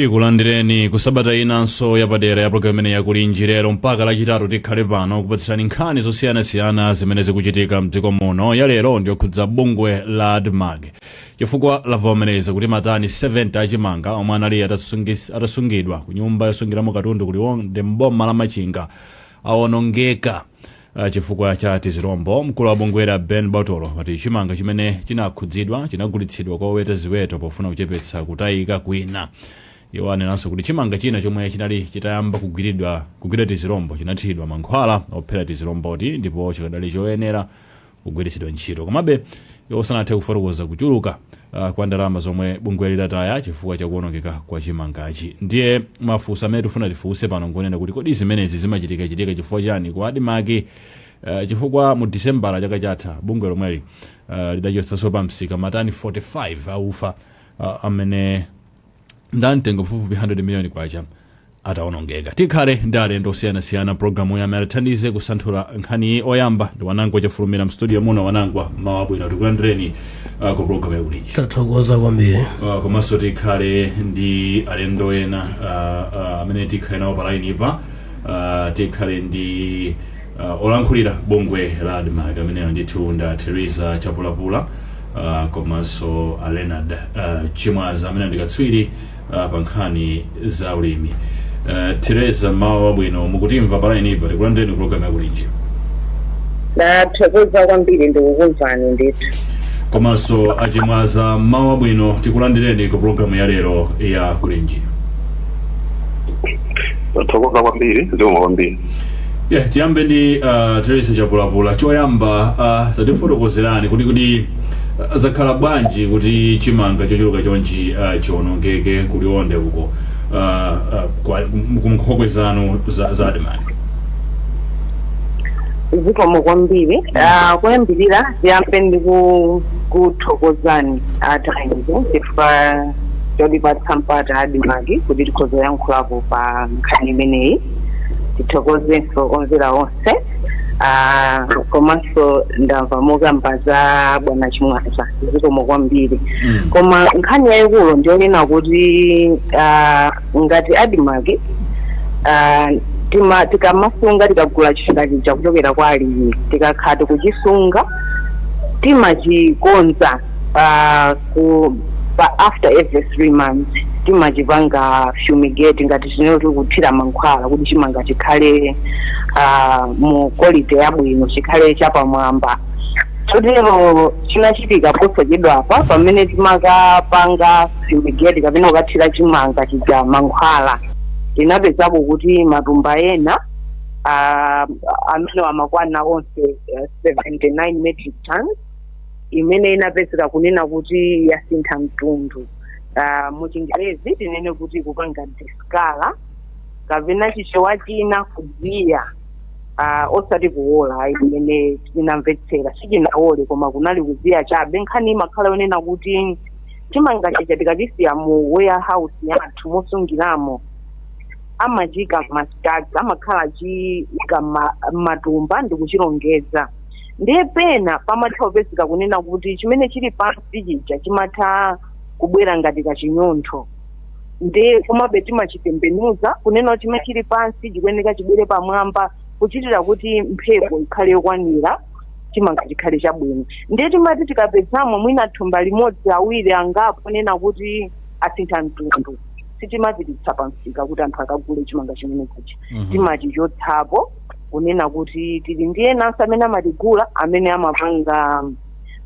Tikulandireni ku sabata inanso yapadera ya pulogalamu imeneyi ya Kulinji. Lero mpaka Lachitatu tikhale pano kupatsirani nkhani zosiyanasiyana zimene zikuchitika mdziko muno. Ya lero ndiyokhudza bungwe la Admarc chifukwa lavomereza kuti matani 70 a chimanga omwe anali atasungidwa ku nyumba yosungiramo katundu ku Liwonde m'boma la Machinga awonongeka. Ah, chifukwa cha tizirombo mkulu wa bungweli a Ben Botolo wati chimanga chimene chinakhudzidwa chinagulitsidwa kwa oweta ziweto pofuna kuchepetsa kutayika kwina iwo anenanso kuti chimanga china chomwe chinali chitayamba kugwidwa tizirombo chinathiridwa mankhwala ophera tiziromboti ndipo chikadali choyenera kugwiritsidwa ntchito. Komabe, iwo sanathe kufotokoza kuchuluka uh, kwa ndalama zomwe bungweli lataya chifukwa cha kuonongeka kwa chimangachi. Ndiye mafunso amene tifuna tifunse pano ngwonena kuti kodi zimenezi zimachitikachitika chifukwa chani ku Admarc uh, chifukwa mu disembala chaka chatha bungwe lomweli uh, lidachotsanso pa msika matani 45 aufa uh, amene ndamtengo pafupifupi 100 miliyoni kwacha atawonongeka tikhale ndi alendo osiyanasiyana programuyi amene atithandize kusanthula nkhaniyi oyamba ndi wanangwa chafulumira mstudio muno Wanangwa mmawa wabwino tikulandireni uh, ku programu ya Kulinji tathokoza kwambiri uh, komanso tikhale ndi alendo ena uh, uh, amene tikhale nawo palainipa uh, tikhale ndi Uh, olankhulira bungwe la admarc amenewa ndithu ndi a Teresa chapulapula uh, komanso a leonard uh, chimwaza amene ndi katswiri uh, pa nkhani za ulimi uh, Teresa mmawa wabwino mukutimva palainipa tikulandireni programu ya Kulinji ndathokoza kwambiri ndikukumvani ndithu komanso a Chimwaza mmawa wabwino tikulandireni ku programu ya lero ya kulinji tathokoza kwambiri zikomo kwambiri Yeah, tiyambe ndi uh, Teresa Chapulapula. Choyamba uh, tatifotokozerani kuti kodi uh, zakhala bwanji kuti chimanga chochuluka chonchi uh, chionongeke ku Liwonde uko uh, uh, kwa- ku nkhokwe zanu za, za Admarc. zikomo kwambiri Ah, kuyambirira tiyambe ndi ku- kuthokozani a Times chifukwa chotipatsa mpata a Admarc kuti tikhoze kuyankhulapo pa nkhani imeneyi tithokozenso omvera onse ah, komanso ndamva mukukamba za bwana chimwaza zikomo kwambiri Mm. koma nkhani yayikulu ndiyonena kuti ah, ngati Admarc ah, tima- tikamasunga tikagula chimanga chija kuchokera kwa alimi tikakhala tikuchisunga timachikonza ah, ku pa after every three months timachipanga fumigate ngati tinene kuti kuthira mankhwala kuti chimanga chikhale ah, mu quality yabwino chikhale chapamwamba chotero chinachitika posachedwapa pamene timakapanga fumigate kapena kukathira chimanga chija mankhwala tinapezako kuti matumba ena ah, amene amakwana onse eh, 79 metric tons imene inapezeka kunena kuti yasintha mtundu uh, mu chingerezi tinene kuti kupanga discolour kapena chichewa tinene kuziya uh, osati kuwola ayi imene tinamvetsera sichinawole koma kunali kuziya chabe nkhani imakhala yonena kuti chimanga chija tikachisiya mu warehouse yathu mosungiramo amachiika m'mastaki amakhala achiika ma- matumba ndi kuchilongeza ndiye pena pamatha kupezeka kunena kuti chimene chili pansi chija chimatha kubwera ngati kachinyontho ndiye komabe timachitembenuza kunena kuti chimene chili pansi chikuyeneka chibwere pamwamba kuchitira kuti mphepo ikhale yokwanira chimanga chikhale chabwino ndiye timati tikapezamo mwina thumba limodzi awiri angapo onena kuti asintha mtundu sitimapititsa pamsika kuti anthu akagule chimanga chimenechi Mhm. timachichotsapo kunena kuti tili ndi enanso amene amatigula amene amapanga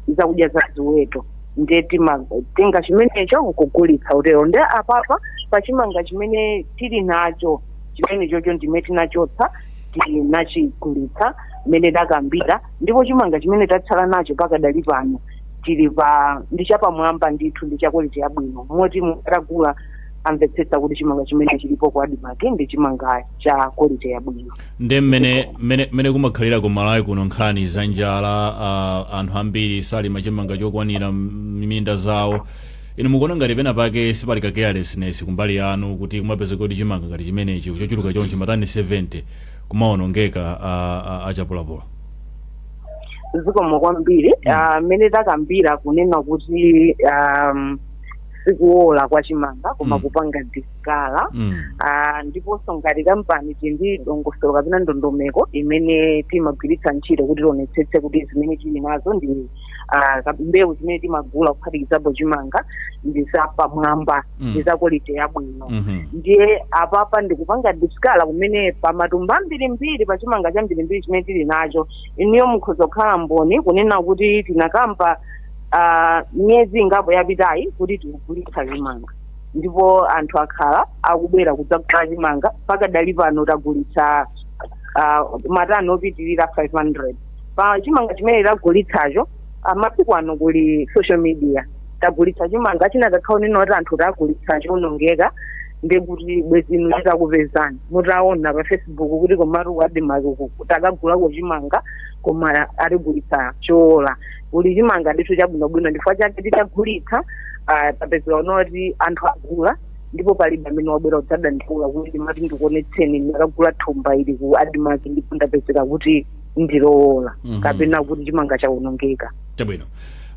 zakudya za ziweto ndiye timatenga chimenecho nkugulitsa utero nde apapa pa chimanga chimene tili nacho chimenechocho ndiye tinachotsa tinachigulitsa mmene takambira ndipo chimanga chimene tatsala nacho pakadali pano tilipa ndi chapamwamba ndithu ndi chakwaliti yabwino moti mutagula mumvetsetsa kuti chimanga chimene chilipo ku admarc ndi chimanga cha kwaliti yabwino nde mmene mmene mmene kumakhalira ku malawi kuno nkhani za njala uh, anthu ambiri salima chimanga chokwanira m'minda zawo inu mukuona ngati pena pake sipali ka carelessness kumbali yanu kuti kumapeza kuti chimanga ngati chimenechi chochuluka chonchi matani 70 kumawonongeka uh, uh, a chapulapula zikomo kwambiri Ah, mmene takambira kunena kuti um, sikuola kwa chimanga koma Mm. kupanga dis colour Mm. Ah, ndiponso ngati kampani tili ndi dongosolo kapena ndondomeko imene timagwiritsa ntchito kuti tionetsetse kuti zimene tili nazo ndi ah, ka- mbewu zimene timagula kuphatikizapo chimanga ndi zapamwamba Mm. ndi za quality yabwino Mhm. ndiye apapa ndikupanga discolour kumene pa matumba ambirimbiri pa chimanga chambirimbiri chimene tili nacho inuyo mukhoza kukhala mboni kunena kuti tinakamba ah, miyezi ingapo yapitayi kuti tikugulitsa chimanga ndipo anthu akhala akubwera kudzagula chimanga pakadali pano tagulitsa uh, matani opitirira 500 pa chimanga chimene tagulitsacho masiku ano kuli social media tagulitsa chimanga chinakakhala unena kuti anthu tagulitsa choonongeka ndekuti bwezinu chitakupezani mutaona pa facebook kuti komatu ku admarc takagulako chimanga koma atigulitsa choola kuli chimanga ndithu chabwinobwino ndichifukwa chake titagulitsa ah, tapezeka unoti anthu agula ndipo palibe amene wabwera kudzadandaula kuti ndimati ndikuonetseni ndakagula thumba ili ku admarc ndipo ndapezeka kuti ndilowola Mhm. kapena kuti chimanga chawonongeka chabwino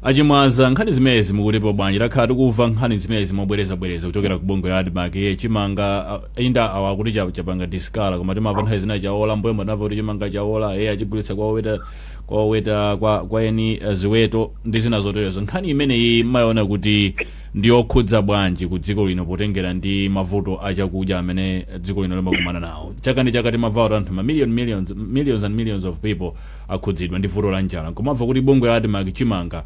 achimwaza nkhani zimenezi mukutipo bwanji takhala tikumva nkhani zimenezi mobwerezabwereza kuchokera ku bungwe la admarc ye chimanga ah, inda awa akuti cha- chapanga disikala koma timava nthawi zina chaola mmbuyomu tinamva kuti chimanga chaola ye achigulitsa kwa oweta kwa oweta kwa, kwa eni eh, ziweto ndi zina zoterezo nkhani imeneyi mmayiona kuti ndi yokhudza bwanji ku dziko lino potengera ndi mavuto a chakudya amene dziko lino limakumana nawo chaka ndi chaka timamva kuti anthu mamillion millions, millions and millions of people akhudzidwa ndi vuto la njala nkomamva kuti bungwe la admarc chimanga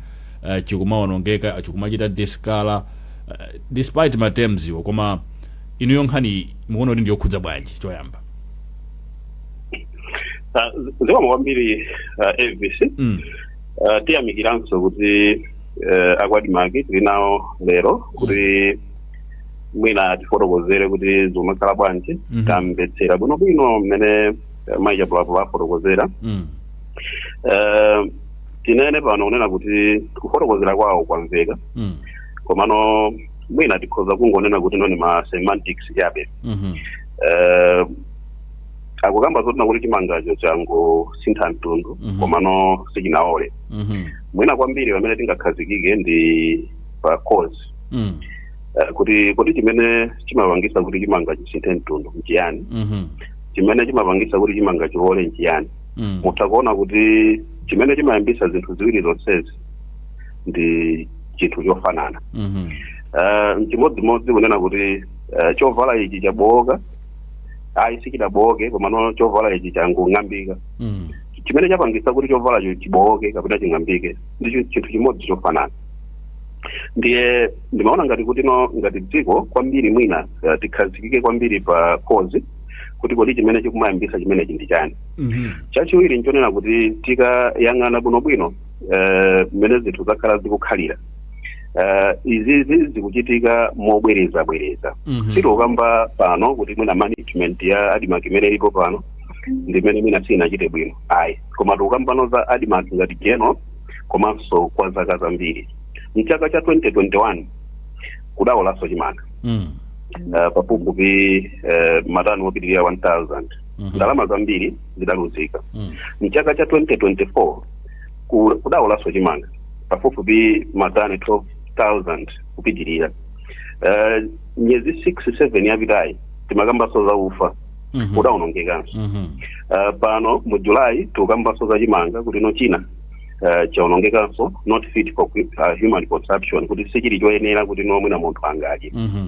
eh, chikumawonongeka chikumachita disikala eh, despite ma terms wo koma inuyo nkhani mukuona kuti ndi yokhudza bwanji choyamba Ah, zi- zikomo kwambiri ah, Elvis mm. Ah, tiyamikiranso kuti eh, a ku admarc tili nawo lero kuti mwina atifotokozere kuti zikumakhala bwanji Mhm. tamvetsera bwinobwino mmene eh, mayi chapulapula afotokozera Mm. Eh, tinene pano kunena kuti kufotokozera kwawo kwamveka Mm. komano mwina tikhoza kungonena kuti ino ndi ma semantics chabe Mhm. eh, akukamba zonena kuti chimangacho changosintha mtundu Mhm. komano sichinaole Mhm. mwina kwambiri pamene tingakhazikike ndi pa cause Mm. eh, kuti kodi chimene chimapangisa kuti chimanga chisinthe mtundu nchiyani Mhm. chimene chimapangisa kuti chimanga chiole nchiyani Mm. mutha kuona kuti chimene chimayambisa zinthu ziwiri zonsezi ndi chinthu chofanana Mhm. Eh, mchimodzimodzi kunena kuti eh, chovala ichi chabowoka ayi sichidabowoke komano chovala ichi changong'ambika Mm. chimene chapangisa kuti chovalacho chibowoke kapena ching'ambike ndi chi- chinthu chimodzi chofanana ndiye ndimaona ngati kuti ngati dziko kwambiri mwina eh, tikhazikike kwambiri pa cause kuti kodi chimene chikumayambisa chimenechi ndi chani Mhm. chachiwiri nchonena kuti tikayang'ana bwinobwino eh, mmene zinthu zakhala zikukhalira Eh, izi zikuchitika mobwerezabwereza Mhm. sitikukamba pano kuti mwina management ya admarc imene ilipo pano ndimene mwina sinachite bwino ayi koma tikukamba za admarc ngati general komanso kwa zaka zambiri mchaka cha 2021 kudaolanso chimanga Mm. uh, pafupifupi uh, matani opitirira 1000 Mhm. ndalama zambiri zidaluzika Mm. mchaka cha 2024 ku- kudaolanso chimanga pafupifupi matani 12000 kupitirira Eh, miyezi 6 7 yapitayi timakambaso za ufa Mhm. udaonongekanso Mhm. Eh, pano mu julayi tikukambanso za chimanga kuti no china, eh, chaonongekanso not fit for uh, human consumption kuti sichili choyenera kuti no mwina munthu angadye Mhm.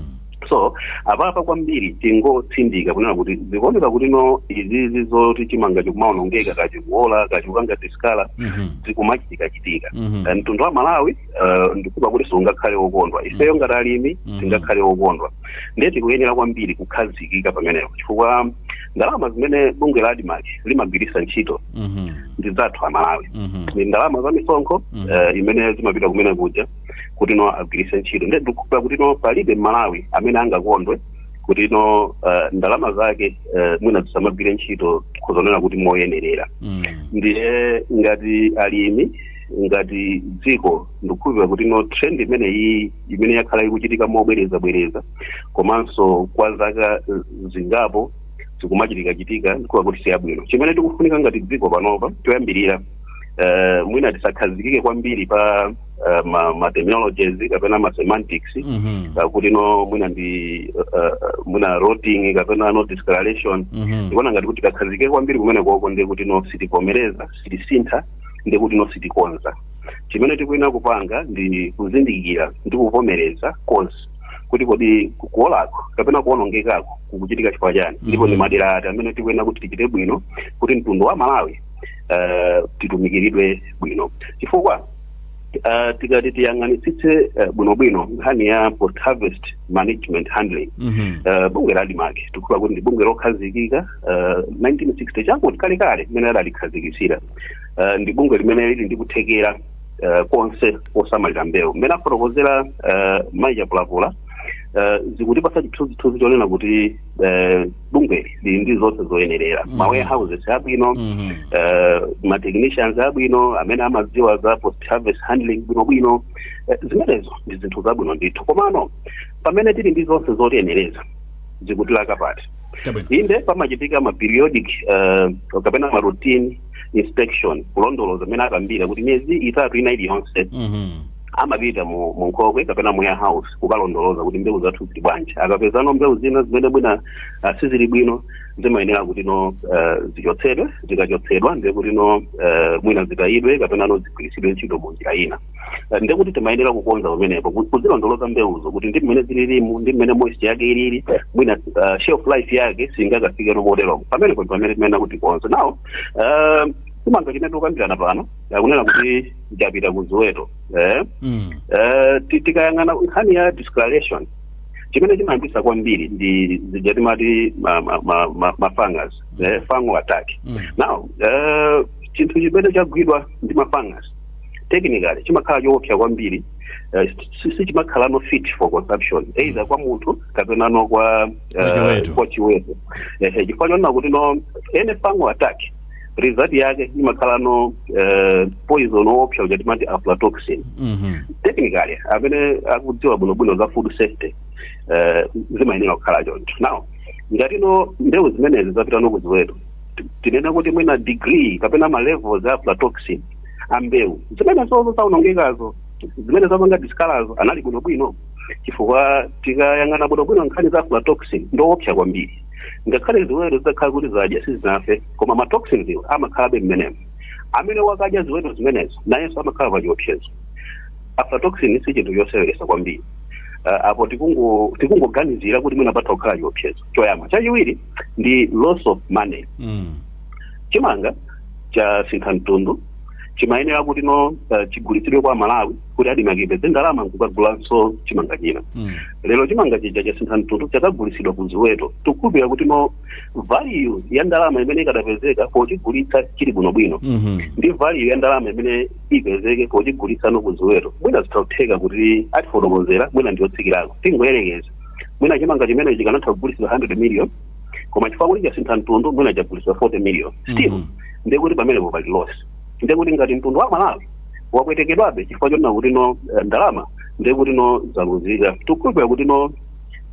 so apapa kwambiri tingotsindika kunena kuti zikuoneka kuti no izizi zoti chimanga chikumaonongeka ka chikuola ka chikupanga discolour Mhm. zikumachitika chitika Mhm. Eh, mtundu wa amalawi eh, ndikhupa kuti sungakhale wokondwa ifeyo ngati alimi Mhm. sitingakhale wokondwa ndiye tikuyenera kwambiri kukhazikika pamenepo chifukwa ndalama zimene bungwe la admarc limagwiritsa ntchito Mhm. ndi zathu amalawi Mhm. ndi ndalama za misonkho Mhm. eh, imene zimapita kumene kuja kuti no agwiritse ntchito nde ndikukhulupira kuti no palibe mmalawi amene angakondwe kuti no uh, ndalama zake uh, mwina zisamagwire ntchito khoza nena kuti moyenerera Mm. ndiye ngati alimi ngati dziko ndikukhulupira kuti no trend imene iyi imene yakhala ikuchitika mobwereza bwereza komanso kwa zaka eh, zingapo zikumachitika chitika ndikuona kuti siyabwino chimene tikufunika ngati dziko panopa choyambirira eh, mwina tisakhazikike kwambiri pa eh, ma, ma terminologies kapena ma semantics Mhm. uh, kuti no mwina ndi uh, uh, mwina rotting kapena no discoloration Mhm. ndikuona ngati tikakhazikika kwambiri kumene koko ndi kuti no sitivomereza sitisintha ndi kuti no sitikonza chimene tikuyenera kupanga ndi kuzindikira ndi kuvomereza cause kuti kodi ku- kuolako kapena kuonongekako kukuchitika chifukwa chani ndipo ndi Mhm. madera ati amene tikuyenera kuti tichite bwino kuti mtundu wa malawi uh, titumikiridwe bwino chifukwa uh, tikati tiyang'anitsitse uh, bwinobwino nkhani ya post harvest management handling Mhm. uh, bungwe la admarc tikhupa kuti ndi bungwe lokhazikika uh, 1960 chakuti kalekale mmene adalikhazikitsira uh, ndi bungwe limene lili ndi kuthekera uh, konse kosamalira mbewu mmene afotokozera uh, mayi chapulapula uh, zikutipasa chithunzithunzi chonena kuti eh, bungweli lili ndi zonse zoyenerera Mhm. ma warehouses abwino Mhm. eh, ma technicians abwino amene amadziwa za post harvest handling bwinobwino Eh, zimenezo ndi zinthu zabwino ndithu komano pamene tili ndi zonse zotiyenereza zikutilaka pati Chabwino. inde pamachitika ma periodic eh, kapena ma routine inspection kulondoloza mmene akambira kuti miyezi itatu ina iliyonse Mhm. amapita mu mu nkhokwe kapena mu warehouse kukalondoloza kuti mbewu zathu zili bwanji akapezano mbewu zina zimene mwina ah, sizili bwino zimayenera kuti no eh, zichotsedwe zikachotsedwa ndiye kuti no eh, mwina zitayidwe kapena no zigwiritsidwe ntchito mu njira ina Eh, ndiye kuti timayenera kukonza pamenepo ku- kuzilondoloza mbewuzo kuti ndi mmene zililimo ndi mmene moisture yake ilili mwina ah, shelf life yake singakafike no moteromo pamenepo ndi pamene timayenera kuti tikonze nawo eh, chimanga chimene tikukambirana pano akunena kuti chapita ku ziweto eh? Mm. Eh, ti- tikayang'ana nkhani ya discoloration chimene chimayambisa kwambiri ndi zija timati ma- ma- ma- ma- mafungus eh, fungal attack Mm. now eh, chinthu chimene chagwidwa ndi mafungus technically chimakhala choopsa kwambiri eh, si- si chimakhala no fit for consumption either kwa munthu kapena no kwa eh, Kwa chiweto. kwa chiweto Eh, eh, chifukwa chonena kuti no any fungal attack result yake imakhala no eh, poison woopsa uja timati aflatoxin Mhm. technically amene akudziwa bwinobwino za food safety eh, zimayenera kukhala choncho now ngati no mbewu zimenezi zapita no kuziweto ti- tinene kuti mwina degree kapena ma levels a aflatoxin a mbewu zimenezozo zaonongekazo zimene zapanga discolour-zo anali bwinobwino chifukwa tikayang'ana bwinobwino nkhani za aflatoxin ndi yoopsa kwambiri ngakhale ziweto zitakhala kuti zadya sizinafe koma ma toxins iwo amakhalabe mmenemo amene akadya ziweto zimenezo nayenso amakhala pa chiopsezo aflatoxin si chinthu choseweresa kwambiri uh, apo tikungo- tikungoganizira kuti mwina patha kukhala chiopsezo choyamba chachiwiri ndi loss of money Mm. chimanga chasintha mtundu chimayenera kuti no uh, chigulitsidwe kwa aMalawi kuti ADMARC ipeze ndalama nkukagulanso chimanga china Mm. lero chimanga chija chasintha mtundu chakagulitsidwa ku ziweto tikukhulupirira kuti no value ya ndalama imene ikadapezeka pochigulitsa chili bwinobwino Mhm. ndi value ya ndalama imene ipezeke pochigulitsa no ku ziweto mwina zitatheka kuti atifotokozera mwina ndiyotsikirako tingoyerekeza mwina chimanga chimene chikanatha kugulitsidwa 100 million koma chifukwa kuti chasintha mtundu mwina chagulitsidwa 40 million still Mhm. ndiye kuti pamenepo pali loss ndiye kuti ngati mtundu wa malawi wapwetekedwabe chifukwa chonena kuti no eh, ndalama ndiye kuti no zaluzika tikukhulupirira kuti no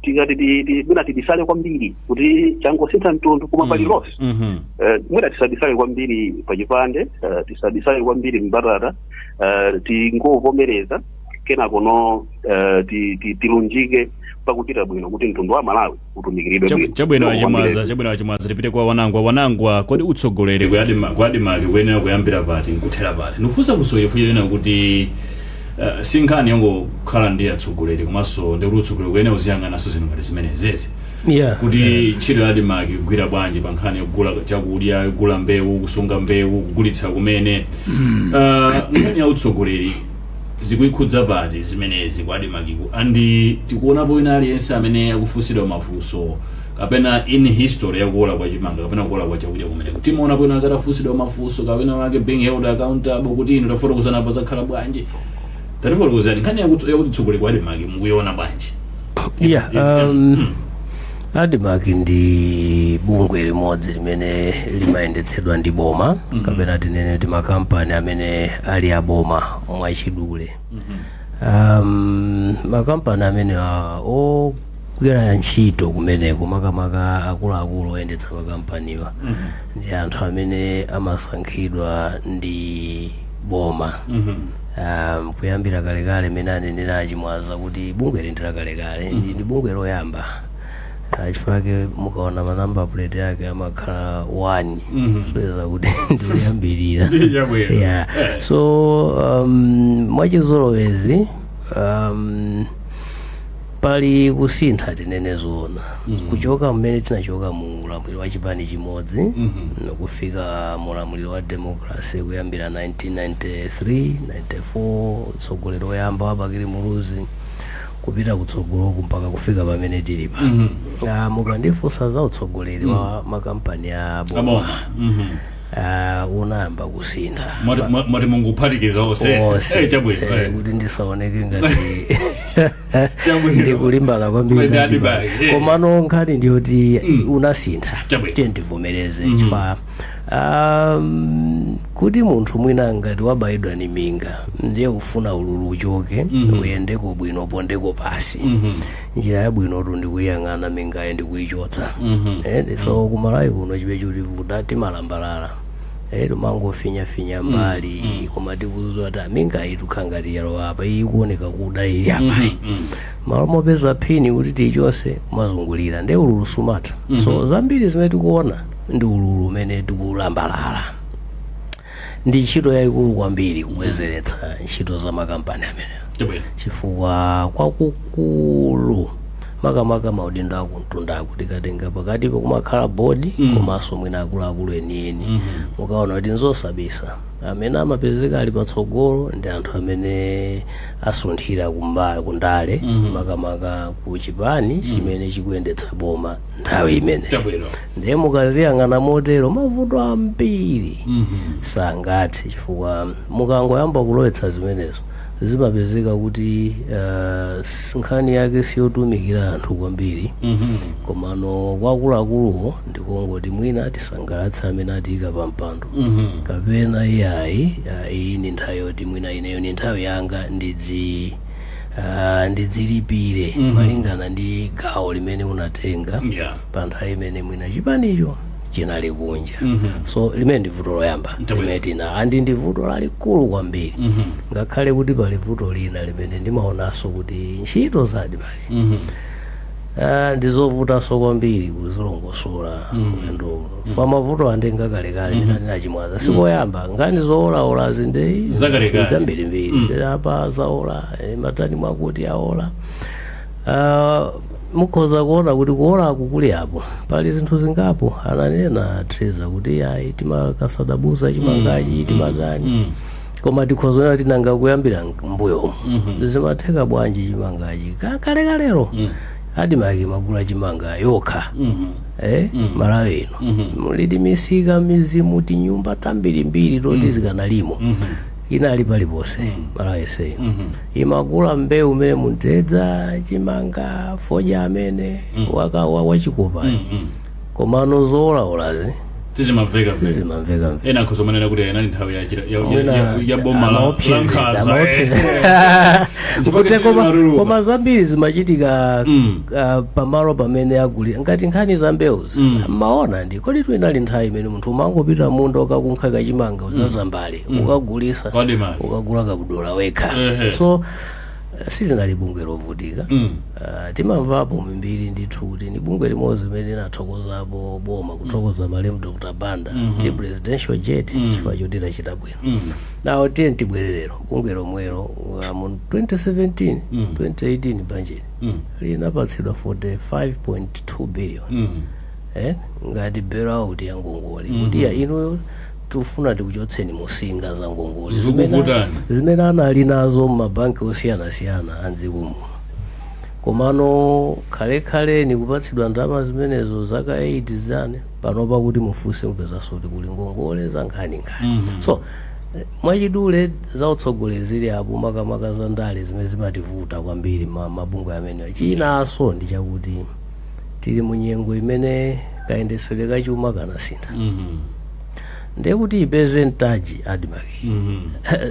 tikati ti- ti- mwina tibisale kwambiri kuti changosintha mtundu koma pali loss Mhm. Eh, mwina tisabisale kwambiri pachipande eh, tisabisale kwambiri m'mbatata eh, tingovomereza kenako no eh, ti- ti- tilunjike pakuchita bwino kuti mtundu wa malawi utumikiridwe Chabu- bwino. chabwino Zikomo kwambiri. a Chimwaza chabwino a Chimwaza tipite kwa Wanangwa Wanangwa kodi utsogoleri wa ADMA- wa ADMARC ukuyenera kuyambira pati nkuthera pati ndikufunsa funso chifukwa chonena kuti eh, si nkhani yongokhala ndi atsogoleri komanso ndikuti utsogoleri ukuyenera uziyang'ananso zinthu ngati zimenezi eti yeah kuti ntchito ya ADMARC ikugwira bwanji pa nkhani yogula chakudya kugula mbewu kusunga mbewu kugulitsa kumene Ah, nkhani ya utsogoleri zikuikhudza bwanji zimenezi ku admarc and tikuonapo wina aliyense amene akufunsidwa mafunso kapena in history ya kuola kwa chimanga kapena kuola kwa chakudya kumeneku timaonapo wina wake atafunsidwa mafunso ka wina wake being held accountable kuti inu tafotokozani apa zakhala bwanji tatifotokozani nkhani yakuti ya utsogoleri ku admarc mukuiona bwanji Yeah, um, admarc ndi bungwe limodzi limene limayendetsedwa ndi boma kapena tinene kuti makampani amene ali aboma mwachidule um, makampani amenewa ogwira ntchito kumeneko makamaka akuluakulu oyendetsa makampaniwa ndi anthu amene amasankhidwa ndi boma um, kuyambira kalekale mmene anenera a Chimwaza kuti bungweli ndi lakalekale mm. ndi bungwe loyamba Ah, chifukwa chake mukaona ma number plate yake amakhala one Mhm. kusonyeza kuti ndikuyambirira Yabwera. yeah. so um, mwachizolowezi um, pali kusintha tinene zoona kuchoka mmene tinachoka mu ulamuliro wa chipani chimodzi kufika mu ulamuliro wa democracy kuyambira 1993 94 utsogoleri woyamba wa bakili muluzi kupita kutsogoloku mpaka kufika pamene tilipa Ah, mukandifunsa za utsogoleri wa makampani a boma aboma Mhm. ah, unayamba kusintha Mwati- mwa- mwati mungophatikiza onse Onse. Eh, chabwino Eh, eh. kuti ndisaoneke ngati Chabwino. ndikulimbana kwambiri kwambiri ndi admarc, eh. komano nkhani ndiyoti unasintha Chabwino. tiyeni tivomereze chifukwa um, kuti munthu mwina ngati wabayidwa ndi minga ndiye ufuna ululu uchoke uyendeko bwino upondeko pansi njira yabwinotu ndikuyiyang'ana mingayo ndikuyichotsa Eh, so ku Malawi kuno chimene chikutivuta timalambalala Eh, timangofinyafinya mbali iyi koma tikudziwa kuti minga iyi ikukhala ngati yalowa apa iyi ikuoneka kuda ili apa iyi mmalo mopeza phini kuti tiyichotse kumazungulira nde ululu sumatha so zambiri zimene tikuona ndi ululu umene tikulambalala ndi ntchito yayikulu kwambiri kubwezeretsa ntchito za makampani amenewa chabwino chifukwa kwakukulu makamaka maudindo akumtundaku tikatenga pakatipa kumakhala bodi mm. komanso mwina akuluakulu enieni mm -hmm. mukuona kuti nzosabisa amene amapezeka ali patsogolo ndi anthu amene asunthira kumba- kundale mm -hmm. makamaka ku chipani chimene chikuyendetsa boma nthawi imene chabwino ndiye mukaziyang'ana motero mavuto ambiri mm -hmm. sangathe chifukwa mukangoyamba kulowetsa zimenezo zimapezeka kuti uh, nkhani yake siyotumikira anthu kwambiri komano kwa akuluakuluwo ndikongoti mwina tisangalatse amene atiika pa mpando kapena iyayi ah, iyi ndi nthawi yoti mwina ineyo ndi nthawi yanga ndidzi ah, ndidzilipire malingana ndi gawo limene unatenga Yeah. pa nthawi imene mwina chipanicho chinali kunja so limene ndi vuto loyamba Ndabwino. limene tina and ndi vuto lalikulu kwambiri ngakhale kuti pali vuto lina limene ndimaonanso kuti ntchito za admarc Ah, ndizovutanso kwambiri kuzilongosola ulendo uno chifukwa mavuto ake ndi akalekale ndina ndinachimwaza sikoyamba ngani zoolaolazi ndi Zakalekale. zambirimbiri apa zaola eh, matani mwakuti aola Ah, mukhoza kuona kuti kuolaku kulipo pali zinthu zingapo ananena treza kuti ayi timakasadabuza chimangachi timatani koma tikhoza kuonera kuti nanga kuyambira mbuyomu zimatheka bwanji chimangachi Ka- kalekalero admarc imagula chimanga yokha eh, malawi ino muli timisika midzimu tinyumba tambirimbiri toti zikanalimo inali paliponse malawi yonse imagula mbewu umene mtedza chimanga fodya amene waka wa- wachikopa komano zoolaolazi sizimamveka mveka zimamveka mveka ena akhoza kumanena kuti inali nthawi ya chira- ya- ya- Mwina ya- ya boma la- la amaopseza, nkhaza amaopseza. eh. Chifukwa Kuti chifukwa koma- maruru. koma zambiri zimachitika Mm. ah, pamalo pamene agulira ngati nkhani za mbewuzi mmaona ndipo ndithu inali nthawi imene munthu umangopita kumunda ukakunkha kachimanga udzaze mbale ukagulisa Kwa demand. ukagula kabudola wekha Ehe. so eh, silinali bungwe lovutika Mm. Ah, timamvapo mbiri ndithu kuti ndi bungwe limodzi limene linathokozapo boma kuthokoza malemu dr banda ndi presidential jet chifukwa choti lachita bwino Mm. now tiyeni tibwerere ku bungwe lomwelo uh, mu 2017 2018 bajeti Mm. linapatsidwa 45.2 billion Mm. eh, ngati bailout ya ngongole kuti ya inuyo tikufuna tikuchotseni musinga za ngongole Zikuvutani. zimene- zimene anali nazo m'mabanki osiyanasiyana a mdziko muno komano kalekale nikupatsidwa ndalama zimenezo zaka 8 zimene panopa kuti mufunse mupezanso kuti kuli ngongole za nkhaninkhani so eh, mwachidule za utsogoleri zili apo makamaka za ndale zimene zimativuta kwambiri ma- mabungwe amenewa chinanso ndi chakuti tili mu nyengo imene kayendetsedwe ka chuma kanasintha Mhm. ndiye kuti ipeze mtsagi admarc Mhm.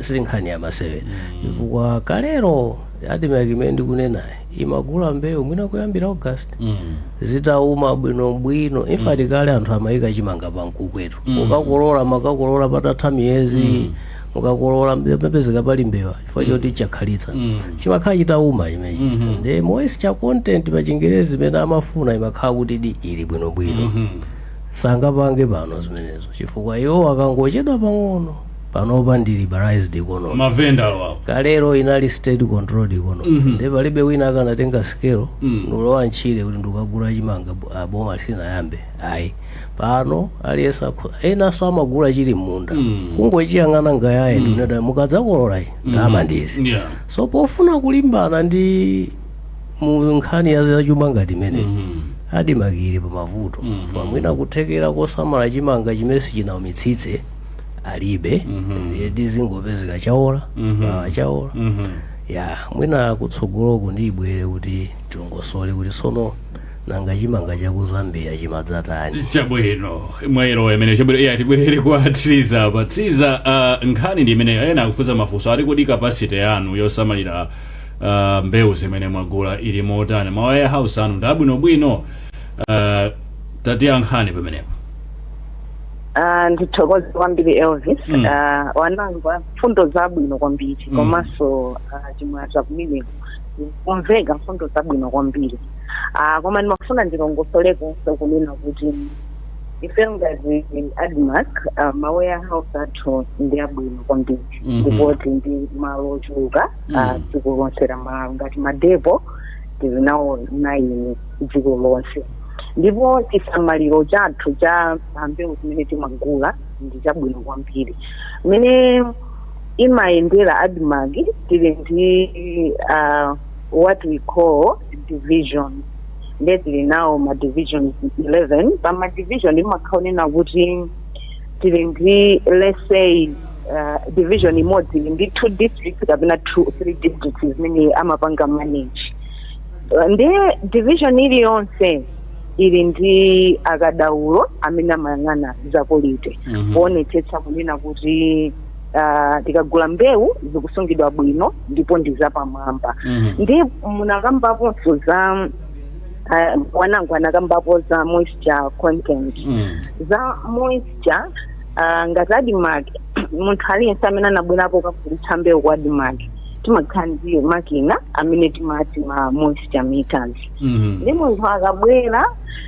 si nkhani ya masewera chifukwa kalero admarc imene ndikunenayi imagula mbewu mwina kuyambira august Mhm. zitauma bwinobwino infati kale anthu amayika chimanga pa mkukwetu ukakolola makakolola patatha miyezi mukakolola apapezeka pali mbewa chifukwa choti chakhalitsa chimakhala chitauma chimechi ndi moisture content pa chingerezi imene amafuna imakhala kuti ili bwinobwino sangapange pano zimenezo chifukwa iwo akangochedwa pang'ono panopa ndi liberalized economy mavenda alipo kalero inali state controlled economy ndi palibe wina akanatenga scale nulowa ntchire kuti ndikagula chimanga bu- ah, boma lisinayambe ayi pano aliyense akho- enanso amagula chili m'munda kungochiyang'ana ngayaye ndinada mukadzakolola iyi ndalama ndizi yeah so pofuna kulimbana ndi mu nkhani ya zachuma ngati imeneyi admarc ili pa mavuto mwina kuthekera kosamala chimanga chimene sichinaumitsitse alibe ndiye tizingopezeka chaola chaola ya mwina kutsogoloku ndibwere kuti tilongosole kuti tsono nanga chimanga cha ku zambia chimadzatani chabwino mwayerowa imene chabwino iyayi tibwerere kwa triza apa triza uh, nkhani ndi imene ena akufunsa mafunso ati kodi capacity yanu yosamalira uh, mbewu zimene mwagula ili motani ma warehouse anu ndi abwinobwino uh, tatiyankhani pamenepo Ah, ndithokoze kwambiri elvis Mm. Ah, wanangwa mfundo zabwino kwambiri Mm. komanso ah, chimwaza kumeneko kumveka mfundo zabwino kwambiri Ah, koma ndimafuna ndilongosolekonso kunena kuti ife ngati admarc ah, ma warehouse athu ndi abwino kwambiri Mhm. ndipo tili ndi malo ochuluka ah, Mm. dziko lonse la malawi ngati madepo tili nawo naini dziko lonse ndipo chisamaliro chathu cha mbewu zimene timagula ndi chabwino kwambiri mmene imayendera admarc tili ndi ah, what we call division nde tili nawo ma divisions 11 pa ma division imakhala onena kuti tili ndi let's say uh, division imodzi ili ndi two districts kapena two three districts zimene amapanga manage Uh, ndiye division iliyonse ili ndi akadaulo amene amayang'ana za quality Mhm. kuonetsetsa kunena kuti Uh, tikagula mbewu zikusungidwa bwino ndipo ndi zapamwamba Mhm. ndi munakambaponso za uh, wanangwa anakambapo za moisture content Mm. za moisture uh, ngati admarc munthu aliyense amene anabwerapo kugulitsa mbewu kwa admarc timakhala ndi makina amene timati ma moisture meters Mhm. ndi munthu akabwera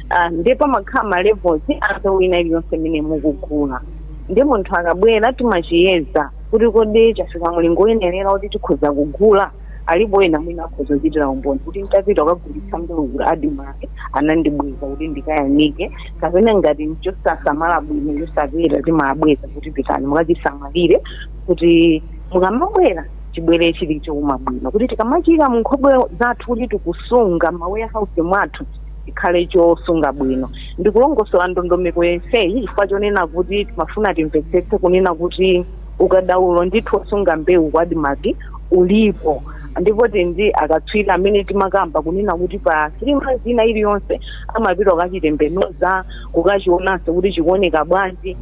ah, ndi pamakhala ma levels a mbewu ina iliyonse imene mukugula ndi munthu akabwera timachiyeza kuti kodi chafika mulingo woyenerera kuti tikhoza kugula alipo ena mwina akhoza kuchitira umboni kuti ntapita kukagulitsa mbewu ku admarc anandibweza kuti ndikayanike kapena ngati nchosasamala bwino chosapeta timabweza kuti pitani mukachisamalire kuti mukamabwera chibwere chili chouma bwino kuti tikamachiika mu nkhokwe zathu kuti tikusunga ma warehouse mwathu chikhale chosunga bwino ndikulongosola ndondomeko yenseyi chifukwa chonena kuti timafuna timvetsetse kunena kuti ukadaulo ndithu wosunga mbewu kwa admarc ulipo ndipo tili ndi akatswiri amene timakamba kunena kuti pa three months ina iliyonse amapita kukachitembenuza kukachionanso kuti chikuoneka bwanji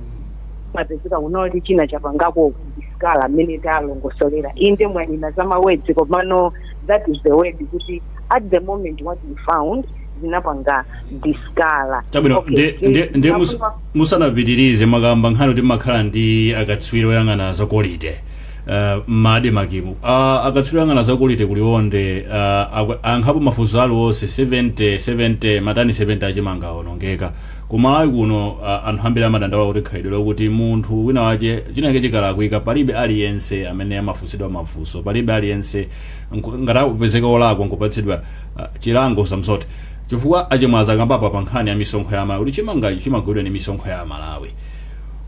imapezeka kunena kuti china chapangako discolour mmene talongosolera inde mwanena za mawedzi komano that is the word kuti at the moment what we found zinapanga discolour chabwino Okay, nde- eh, nde- nde mus- zinapanga- musanapitirize makamba nkhani kuti makhala ndi akatswiri oyang'ana za kolite uh, mmadimakimu uh, akatswiri oyang'ana za kolite kuliwonde uh, akwe- ankhapo mafunso aliwonse 70 70 matani 70 achimanga awonongeka kumalawi kuno uh, anthu ambiri amadandaula kuti khalidwe lokuti munthu wina wache chinake chikalakwika palibe aliyense amene amafunsidwa mafunso palibe aliyense Nku, ngati akupezeka wolakwa nkupatsidwa ah, chilango usamsote chifukwa achimwaza akambapo apa nkhani ya misonkho ya Amalawi kuti chimangachi chimagulidwa ndi misonkho ya Amalawi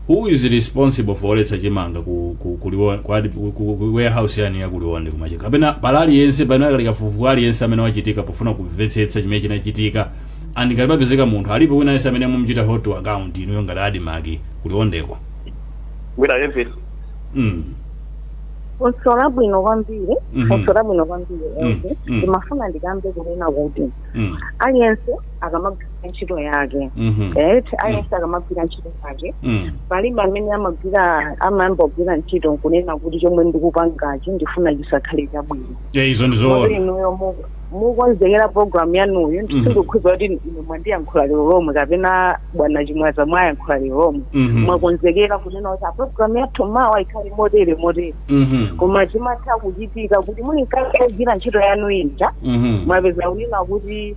who is responsible for oletsa chimanga ku, ku, ku, Liwon- ku, ad- ku, ku, ku warehouse yanu ya ku Liwonde kumachi kapena pali aliyense pamene akali kafukufuku aliyense amene wachitika pofuna kumvetsetsa chimene chinachitika and ngati papezeka munthu alipo wina aliyense amene mumuchita hold to account inuyo ngati adimaki ku Liwondeko mwina aliyense mm. funso labwino kwambiri Mhm. funso labwino kwambiri Mm, ezi mm. ndimafuna ndikambe kunena kuti Mm. aliyense akamagwira ntchito yake Mhm. right aliyense akamagwira ntchito yake Mm. palibe amene amagwira amayamba kugwira ntchito kunena kuti chomwe ndikupangachi ndifuna chisakhale chabwino Eh, izo ndi Motero zoona inuyo mu- mukonzekera program yanuyi Mhm. ndikukhulupirira kuti ine mwandiyankhula lero lomwe kapena bwana chimwaza mwayankhula lero lomwe Mhm. mwakonzekera kunena kuti "Ah, program yathu mawa ikhale motere motere Mhm. koma zimatha kuchitika kuti muli mkati kugwira ntchito yanu ija Mhm. mwapeza kunena kuti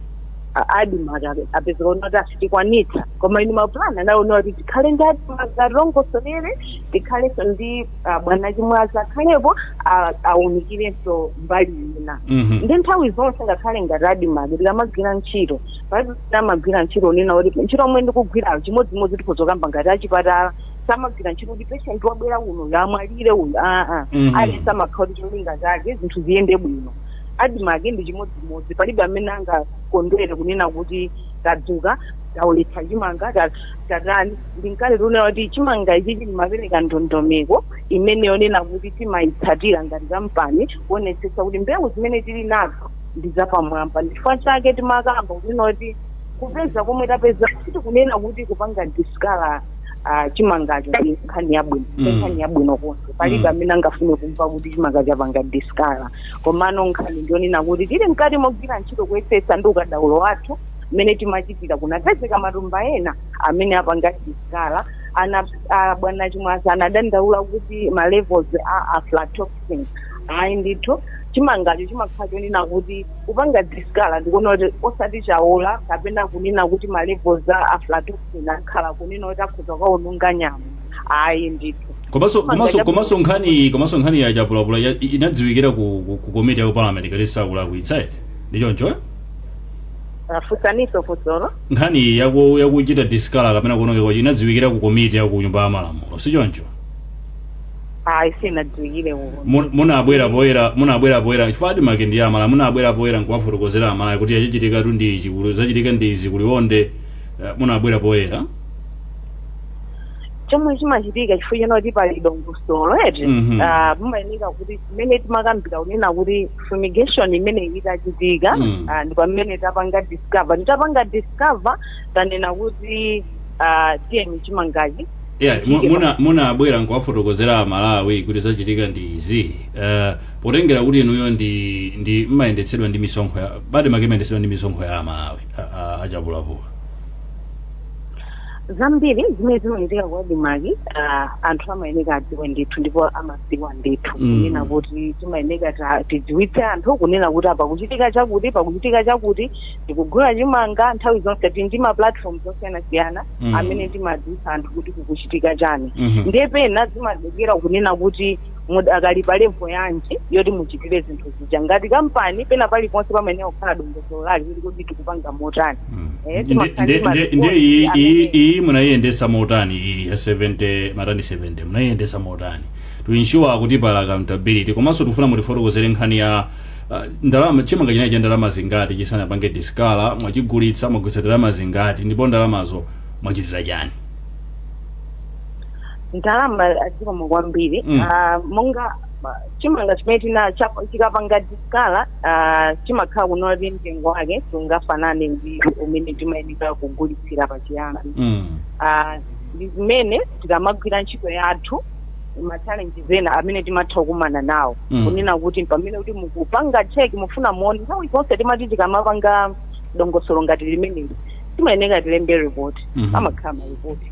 adimaka apeza kunena kuti asitikwanitsa koma inu mapulani anali onena kuti tikhale ndi adimaka atilongosolere tikhalenso ndi ah, bwana chimwaza akhalepo ah, aunikirenso mbali ina Mhm. ndi nthawi zonse ngakhale ngati admarc tikamagwira ntchito palibe amagwira ntchito kunena kuti ntchito yomwe ndikugwirayo chimodzimodzi tikhozokamba ngati achipatala samagwira ntchito kuti patient wabwera kunoyu amwalire uyu aa Mhm. aliyense amakhala kuti cholinga chake zinthu ziyende bwino admarc ndi chimodzimodzi palibe amene angakondwere kunena kuti tadzuka taoletsa chimanga tadzuka tatani ndinkale tikunena kuti chimanga ichi chimapereka ndondomeko imene yonena kuti timayitsatira ngati kampani kuonetsetsa kuti mbewu zimene tili nazo ndi zapamwamba ndichifukwa chake timakamba kunena kuti kupeza komwe tapeza sitikunena kuti kupanga discolour uh, chimangacho ndi nkhani yabwino mm. nkhani yabwino konse palibe mm. amene angafune kumva kuti chimanga chapanga discolour komano nkhani ndiyonena kuti tili mkati mogwira ntchito kuyesetsa ndi ukadaulo wathu mmene timachitira kunapezeka matumba ena amene apanga discolour ana a bwana Chimwaza anadandaula kuti ma levels a aflatoxin ayi ndithu chimangacho chimakhala chonena kuti kupanga discolour ndikuona kuti osati chaola kapena kunena kuti ma levels a aflatoxin akhala kunena kuti akhoza kukaononga nyama ayi ndithu komanso Chimanga komanso cha- komanso nkhani iyi komanso nkhani ya Chapulapula ya- i- inadziwikira ku, ku, ku komiti ya ku parliament ngati sindikulakwitsa eh? ndi choncho eh? funsaninso funsolo nkhani yaku- yakuchita discolour kapena kuonongeka kwacho inadziwikira ku komiti ya ku nyumba ya malamulo si choncho ayi sinadziwikire uko Mu- munabwera poyera munabwera poyera chifukwa ADMARC ndi ya amalawi munabwera poyera nkuwafotokozera amalawi kuti chachitikatu ndi ichi kuli- zachitika ndi izi ku Liwonde eh, munabwera poyera chomwe chimachitika chifukwa chonena kuti pali dongosolo eti Mhm. Ah, mumayenera kuti zimene timakambira kunena kuti fumigation imene itachitika Mm. ah, ndi pamene tapanga discover titapanga discover tanena kuti ah, tiyeni chimangachi yeah, mu- muna- munabwera nkuwafotokozera amalawi kuti zachitika ndi izi uh, potengera kuti inuyo ndi ndi mmayendetsedwa ndi misonkho ya ADMARC imayendetsedwa ndi misonkho ya amalawi a- a- a Chapulapula zambiri zimene zimachitika kwa ADMARC ah, anthu amayenera adziwe ndithu ndipo ama dziwa ndithu Mm. kunena kuti timayeneka ta- tidziwitse anthu kunena kuti apa kuchitika chakuti pakuchitika chakuti tikugula chimanga nthawi zonse tili ndi ma platform osiyanasiyana Mm. amene timadziwitsa anthu kuti kukuchitika chani Mhm. ndiye pena zimatengera kunena kuti mudakali pa level yanji yoti muchitire zinthu zija ngati kampani pena paliponse pamayeneka kukhala dongosolo lake kuti kodi tikupanga motani Eh, Ndi- timakhala ndi ndi- ndi- ndi maripoti iyi- amene- iyi- iyi munayiyendetsa motani iyi ya 70 matani 70 munayiyendetsa motani to ensure kuti pali accountability komanso tikufuna mutifotokozere nkhani ya ah, ndalama chimanga chinali cha ndalama zingati chisanapange discolour mwachigulitsa mwagulitsa ndalama zingati ndipo ndalamazo mwachitira chani ndalama ah zikomo kwambiri Mm. Ah, monga chimanga chimene tina chapa- chikapanga diskala ah, chimakhala kunena kuti mtengo wake sungafanane ndi umene timayeneka kugulitsira pachiyambi Mm. Ah, ndi zimene tikamagwira ntchito yathu machalenji ena amene timatha kukumana nawo Mm. kunena kuti pamene kuti mukupanga cheki mufuna muone nthawi zonse timati tikamapanga dongosolo ngati limeneli timayeneka tilembe report Mhm. amakhala maripoti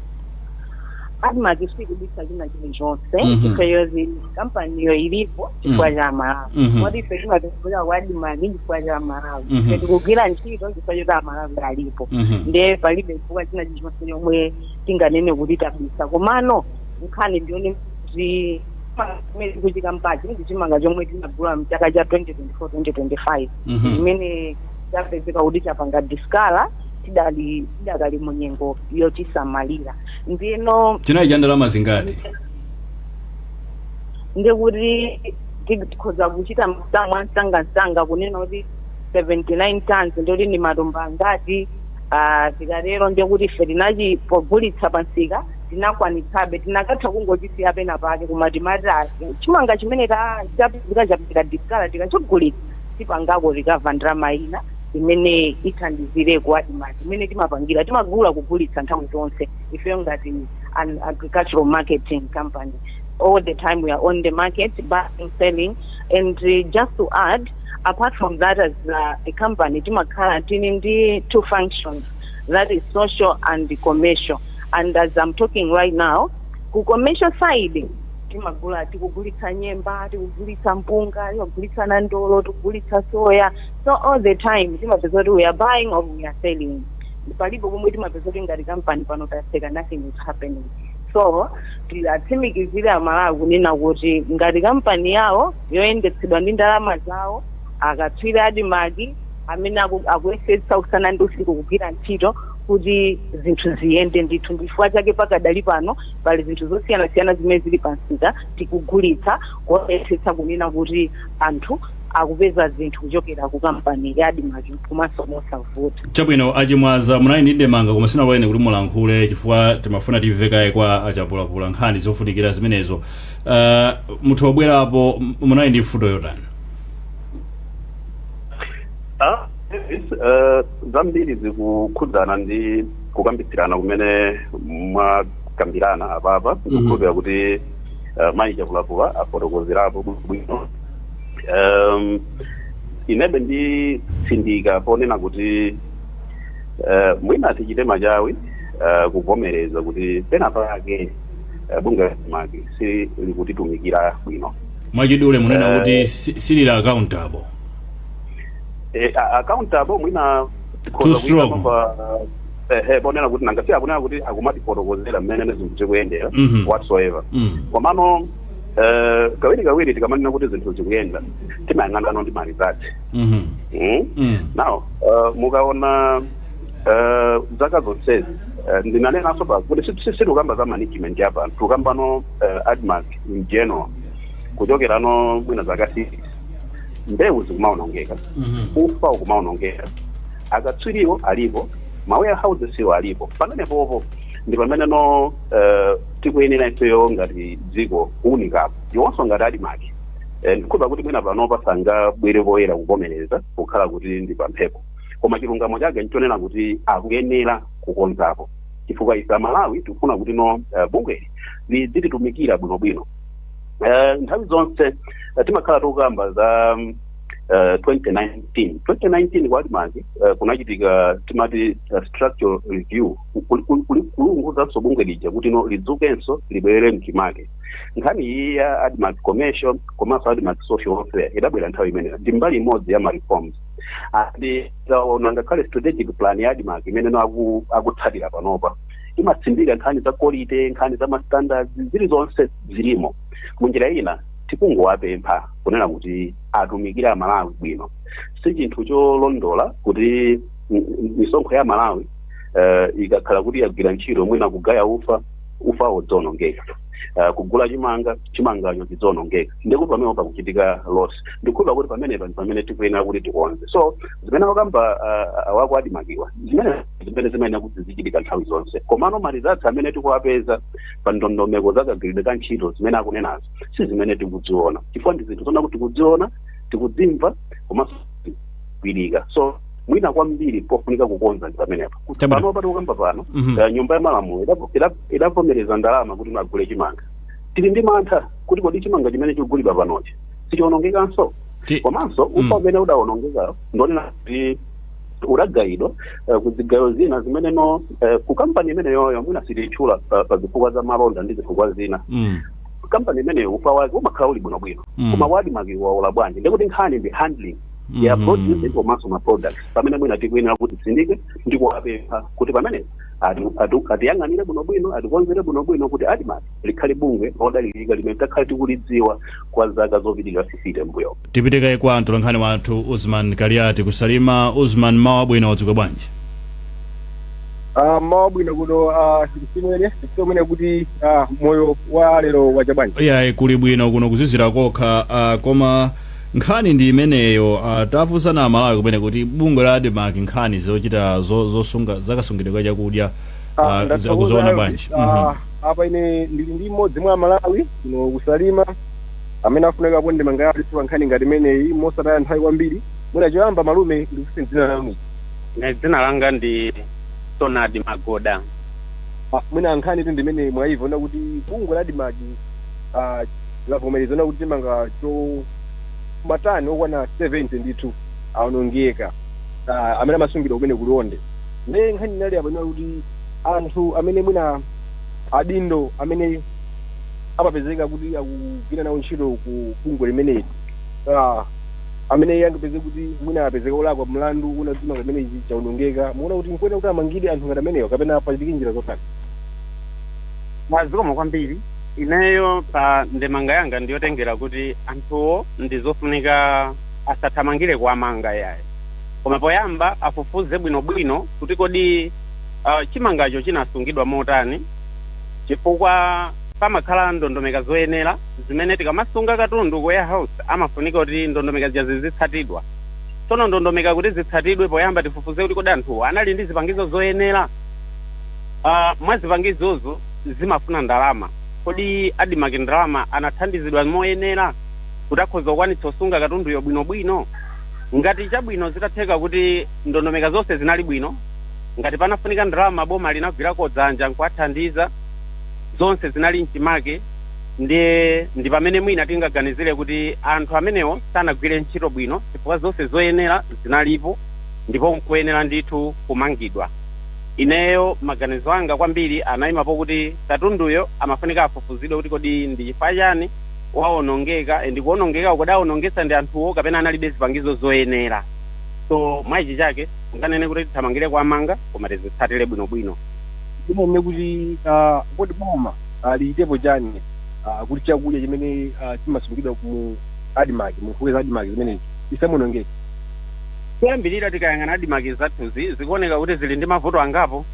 admark sikubisa china chilichonse Mhm. chifukwa choti kampaniyo ilipo chifukwa Mhm. cha amalawi Mhm. moti ife timatikuza kwa admark chifukwa cha amalawi Mhm. ife tikugwira ntchito chifukwa choti amalawi alipo Mhm. ndiye palibe chifukwa china chilichonse chomwe tinganene kuti tabisa komano nkhani ndi yonena kuti chimene tikuchikambachi ndi chimanga chomwe tinagula mchaka cha 2024 2025 Mhm. chimene chapezeka kuti chapanga diskala tidali tidakali mu nyengo yochisamalira ndiyeno chinali cha ndalama zingati ndi kuti tikhoza kuchita masamu amsangamsanga kunena kuti 79 tons ndikuti ndi matumba angati ah, tikatero ndi kuti ife tinachi pogulitsa pa msika tinakwanitsabe tinakatha kungochisiya pena pake koma timati ah, chimanga chimene ta- chapezeka chapanga diskala tikachigulitsa tipangako rikava ndalama ina imene ithandizire ku admarc imene timapangira timagula kugulitsa nthawi zonse ifeyo ngati an agricultural marketing company all the time we are on the market buying selling and uh, just to add apart from that as uh, a company timakhala tili ndi two functions that is social and commercial and as i'm talking right now ku commercial side timagula tikugulitsa nyemba tikugulitsa mpunga tikugulitsa nandolo tikugulitsa soya so all the time timapeza kuti we are buying or we are selling palibe pomwe timapeza kuti ngati kampani pano taseka nothing is happening so tiwatsimikizire amalawi kunena kuti ngati kampani yawo yoyendetsedwa ndi ndalama zawo akatswiri a admarc amene aku- akuyesetsa usana ndi usiku kugwira ntchito kuti zinthu ziyende ndithu ndifukwa chake pakadali pano pali zinthu zosiyanasiyana zimene zili pansika tikugulitsa kuyesetsa kunena kuti anthu akupeza zinthu kuchokera ku kampani ya admarc komanso mosavuta chabwino achimwaza munali ndi ndemanga koma sinalole kuti mulankhule chifukwa timafuna timve kaye kwa achapulapula nkhani zofunikira zimenezo uh, muthu kubwerapo m- munali ndi mfundo yotani Ah, yes, eh, zambiri zikukhudzana ndi kukambitsirana kumene mwakambirana apapa ndikukhulupira kuti eh, mayi chapulapula afotokozerapo bwino um, inebe nditsindika ponena kuti uh, mwina tichite machawi uh, kuvomereza kuti pena pake uh, bungwe la admarc silikutitumikira bwino mwachidule munena Eh. kuti si- silili accountable Eh, a- accountable mwina Too strong. ehe ponena kuti nanga si akunena kuti akumatifotokozera mmene zinthu zikuyendera Mhm. whatsoever mm. komano Eh, kawiri kawiri tikamanena kuti zinthu zikuyenda timayang'anano ndi marizatsi Mhm. Mm? Mm. now uh, mukaona uh, zaka zonsezi uh, ndinanenanso apa kuti si- si- sitikukamba za management apa tikukambano uh, admarc in general kuchokerano mwina zaka six mbewu zikumaonongeka Mhm. ufa ukumaonongeka akatswiriwo alipo mawarehousesiwo alipo pamenepopo ndi pamene no uh, tikuyenera ifeyo ngati dziko kuunikapo iwonso ngati admarc Eh, ndikhulupira kuti mwina panopa sangabwere poyera kuvomereza pokhala kuti ndi pamphepo koma chilungamo chake nchonena kuti akuyenera kukonzapo chifukwa ife amalawi tikufuna kuti no eh, bungweli lidzititumikira bwinobwino Eh, nthawi zonse eh, timakhala tikukamba za mm, eh, 2019 2019 kwa admarc eh, kunachitika timati eh, structural review kulunguzanso bungwe lija kuti no lidzukenso libwerere mchimake nkhani iyi ya admarc commercial komanso admarc social welfare idabwera nthawi imeneyo ndi mbali imodzi ya mareforms andi ndaona ngakhale strategic plan ya admarc imene no aku- akutsatira panopa imatsindika nkhani za quality nkhani za mastandards zili zonse zilimo munjira ina tikungowapempha kunena kuti atumikire amalawi bwino si chinthu cholondola kuti m- m- misonkho ya amalawi eh, ikakhala kuti yagwira ntchito mwina kugaya ufa ufawo udzionongeka uh, kugula chimanga chimangacho chidzionongeka ndikuti pamene pakuchitika loss ndikukhulupira kuti pamenepa ndi pamene tikuyenera kuti tikonze so zimene akamba uh, a ku admarc-wa zimene zimene zimayenera kuti zizichitika nthawi zonse komano malizatsi amene tikuwapeza pa ndondomeko za kagwiridwe ka ntchito zimene akunenazo si zimene tikudziona chifukwa ndi zinthu zona kuti tikudziona tikudzimva komanso zikugwirika so mwina kwambiri pofunika kukonza ndi pamenepo kuti Chabwino. pano pa tikukamba pano Mhm. eh, nyumba ya malamulo idavo- ida- idavomereza ndalama kuti mugule chimanga tili ndi mantha kuti kodi chimanga chimene chikugulidwa panochi sichionongekanso Ti- komanso ufa Mm. umene udawonongeka ndi onena kuti udagayidwa eh, ku zigayo zina zimene no eh, ku kampani imeneyoyo mwina sititchula pa pa zifukwa za malonda ndi zifukwa zina Mm. kampani imeneyo ufa wake umakhala uli bwinobwino Mm. koma wa admarc waola bwanji ndikuti nkhani ndi handling ya Mhm. produce komanso ma products pamene mwina tikuyenera kuti titsindike ndi kuwapempha kuti pamene ati- ati- atiyang'anire bwinobwino atikonzere bwinobwino kuti Admarc likhale bungwe lodalirika limene takhala tikulidziwa kwa zaka zopitirira 50 m'mbuyo tipite kaye kwa mtolankhani wathu Usman Kaliati ku Salima Usman mmawa wabwino wadzuka bwanji Ah, mmawa wabwino kuno ah, timve kumene kuti ah, moyo wa lero wacha bwanji iyayi kuli bwino kuno kuzizira kokha ah, koma Nkhani ndi imeneyo. Ah, tafunsa a Malawi kumene kuti bungwe la Admarc nkhani zochita zo, zosunga zakasungidwe ka chakudya Ah, ah, ndathokoza akuziona Elvis. bwanji? Ah, Mhm. apa ine ndili ndi mmodzi mwa amalawi kuno ku Salima amene afuna kuponya ndemanga yake pa nkhani ngati imeneyi mosataya nthawi kwambiri mwina choyamba malume ndikuti dzina lanu Nde dzina langa ndi Sonadi Magoda. Ah, mwina nkhanitu ndi imene mwayimva zoona kuti bungwe la Admarc ah, lavomereza zoona kuti chimanga cha matani okwana 70 ndithu aonongeka ah, amene amasungidwa kumene ku Liwonde nde nkhani inali apa inali kuti anthu amene mwina adindo amene amapezeka kuti akugwira nawo ntchito ku bungwe limeneli ah, amene angapezeke kuti mwina apezeka olakwa mlandu woona kuti chimanga chimenechi chaonongeka mukuona kuti nkoyenera kuti amangidwe anthu ngati amenewa kapena pachitike njira zotani Zikomo kwambiri Ineyo pa ndemanga yanga ndiyotengera kuti anthuwo ndizofunika asathamangire kuwamanga yayi. Koma poyamba afufuze bwinobwino kuti kodi uh, chimangacho chinasungidwa motani, chifukwa pamakhala ndondomeka zoyenera zimene tikamasunga katundu ku warehouse amafunika kuti ndondomeka zija zizitsatidwa. Tsono ndondomeka kuti zitsatidwe, poyamba tifufuze kuti kodi anthuwo anali ndi zipangizo zoyenera uh, mwa zipangizozo zimafuna ndalama. Kodi Admarc ndalama anathandizidwa moyenera kuti akhoza kukwanitsa kusunga katunduyo bwino bwino? Ngati chabwino zitatheka kuti ndondomeka zonse zinali bwino, ngati panafunika ndalama boma linagwirako dzanja nkuwathandiza, zonse zinali mchimake ndiye ndi pamene mwina tingaganizire kuti anthu amenewo sanagwire ntchito bwino chifukwa zonse zoyenera zinalipo ndipo nkuyenera ndithu kumangidwa. Ineyo maganizo anga kwambiri anaima pokuti katunduyo amafunika afufuzidwe kuti kodi ndi chifukwa chani waonongeka and kuonongekako kodi aonongetsa ndi anthuwo kapena analibe zipangizo zoyenera so mwa ichi sitinganene kuti tithamangire kuwamanga koma tizitsatire bwinobwino. Tinganene kuti kodi boma lichitepo chani kuti chakudya chimene chimasungidwa mu admarc mu nkhokwe za admarc zimenezi chisamaonongeke. Choyambirira, tikayang'ana admarc zathuzi, zikuoneka kuti zili ndi mavuto angapo.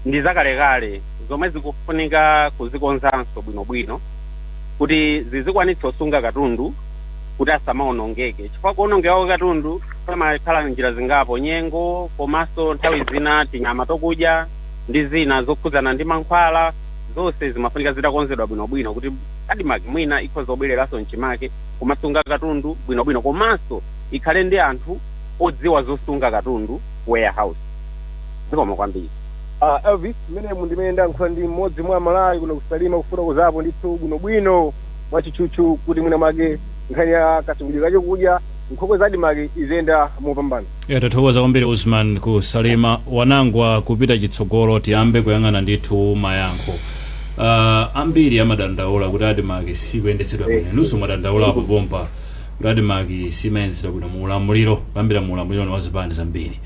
Ndi zakalekale zomwe zikufunika kuzikonzanso bwinobwino kuti zizikwanitsa kusunga katundu kuti asamawonongeke chifukwa kuwonongeka kwa katundu pamakhala njira zingapo, nyengo komanso nthawi zina tinyama tokudya ndi zina zokhudzana ndi mankhwala, zonse zimafunika zitakonzedwa bwinobwino kuti admarc mwina ikhoza kubwereranso m'chimake kumasunga katundu bwinobwino komanso ikhale ndi anthu odziwa zosunga katundu ku warehouse. Zikomo kwambiri. A Elvis, mmene mu ndimene ndayankhula ndi mmodzi mwa Amalawi kuno ku Salima kufotokozapo ndithu bwinobwino mwatchutchutchu kuti mwina mwake nkhani ya kasungidwe ka chokudya nkhokwe za Admarc iziyenda mopambana. Ya, tathokoza kwambiri Usman ku Salima. Wanangwa, kupita chitsogolo tiyambe kuyang'ana ndithu mayankho. Ah, ambiri amadandaula kuti Admarc sikuyendetsedwa bwino. Inunso mwadandaulapo pompa. Admarc simayendetsedwa bwino mu ulamuliro kuyambira mu ulamuliro wa zipani zambiri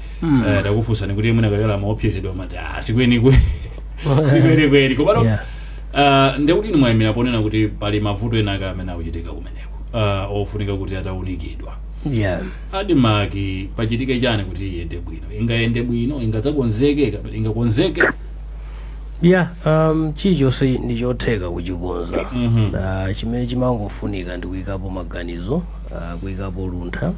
Eh, takufunsani kuti mwina kalekale amaopsezedwa amati "Ah, sikwenikweni sikwenikweni komano Yeah. ah, ndekuti inu mwayimira ponena kuti pali mavuto enaake amene akuchitika kumeneko ah, ofunika kuti ataunikidwa yeah Admarc pachitike chani kuti iyende bwino ingayende bwino ingadzakonzeke kapena ingakonzeke ya um, chilichonse ndi chotheka kuchikonza uh, chimene chimangofunika ndi kuyikapo maganizo uh, kuyikapo luntha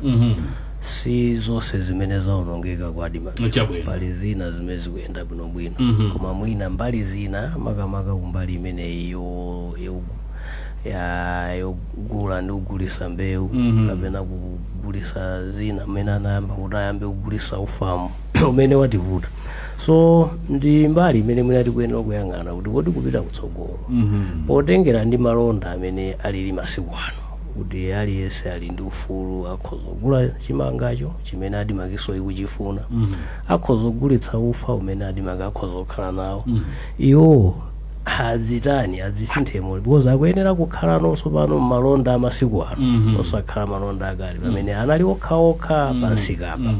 si zonse zimene zaonongeka kwa Admarc pali mbali zina zimene zikuyenda bwinobwino koma mwina mbali zina makamaka kumbali imeneyi yo- yo- ya- yogula ndi kugulisa mbewu kapena kugulisa zina mmene anayambira kuti ayambe kugulisa ufawu umene wativuta so ndi mbali imene mwina tikuyenera kuyang'ana kuti kodi kupita kutsogolo potengera ndi malonda mmene alili masiku ano kuti aliyense ali ndi ufulu akhoza kugula chimangacho chimene Admarcnso ikuchifuna akhoza kugulitsa ufa umene Admarc akhoza kukhala nawo iwo adzitani adzisinthe motani because akuyenera kukhala nawonso pano mmalonda amasiku ano osakhala malonda akale pamene anali okhaokha pamsikapa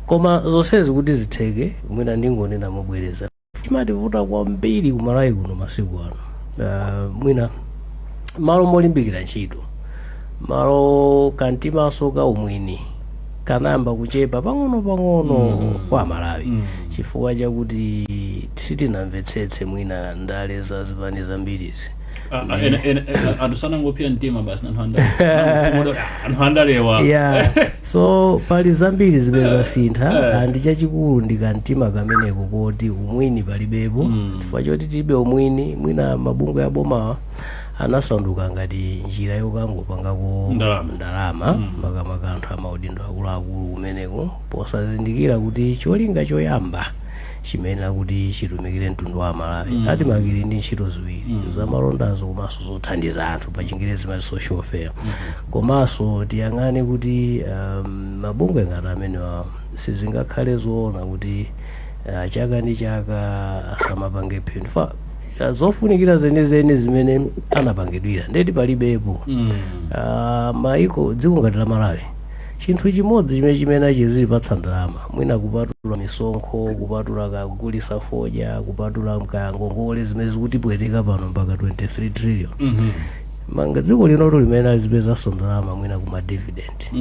koma zonsezi kuti zitheke mwina ndingonena mobwereza chimativuta kwambiri ku Malawi kuno masiku ano uh, mwina m'malo molimbikira ntchito malo kamtimanso ka umwini kanayamba kuchepa pang'ono-pang'ono mm. kwa Amalawi mm. chifukwa chakuti sitinamvetsetse mwina ndale za zipani zambirizi Ah, ah, ena- ena- ena- anthu sanangopsa mtima basi anthu andale anthu andalewa yeah so pali zambiri zimene zasintha Eh. and chachikulu ndi kamtima kameneko koti umwini palibepo Mm. chifukwa choti tilibe umwini mwina mabungwe abomawa anasanduka ngati njira yokangopangako Ndalama. ndalama Mm. makamaka anthu amaudindo akuluakulu kumeneko posazindikira kuti cholinga choyamba chimayenera kuti chitumikire mtundu wa amalawi mm. admarc ili ndi ntchito ziwiri mm. zamalondazo komanso zothandiza anthu pa chingerezi timati social welfare mm. komanso tiyang'ane kuti um, mabungwe ngati amenewa sizingakhale zoona kuti uh, chaka ndi chaka asamapange phindu chifukwa uh, zofunikira zenizeni zimene anapangidwira ndekuti palibepo mm. uh, maiko dziko ngati la malawi chinthu chimodzi chimene chimene achizilipatsa ndalama mwina kupatula misonkho kupatula kagulitsa fodya kupatula nkaya ngongole zimene zikutipweteka pano mpaka 23 trillion monga dziko linotu limene alizipezanso ndalama mwina kuma dividend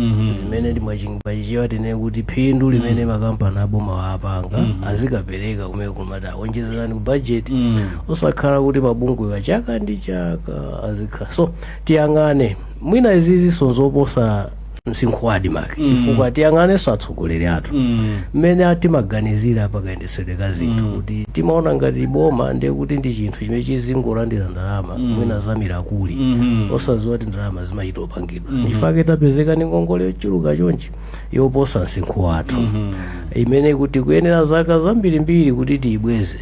limene ndi mwachichewa tinene kuti phindu limene makampani aboma waapanga azikapereka kumene kumathandiza kuonjezera ku budget osakhala kuti mabungwewa chaka ndi chaka azikhala so tiyang'ane mwina izizinso nzoposa msinkhu wa admarc chifukwa tiyang'anenso atsogoleri athu mmene a- timaganizira pakayendetsedwe ka zinthu kuti timaona ngati boma ndiye kuti ndi chinthu chimene chizingolandira ndalama mwina za mirakuli osadziwa kuti ndalama zimachita opangidwa nchifukwa chake tapezeka ndi ngongole yochuluka chonchi yoposa msinkhu wathu imene kuti kuyenera zaka zambirimbiri kuti tiyibweze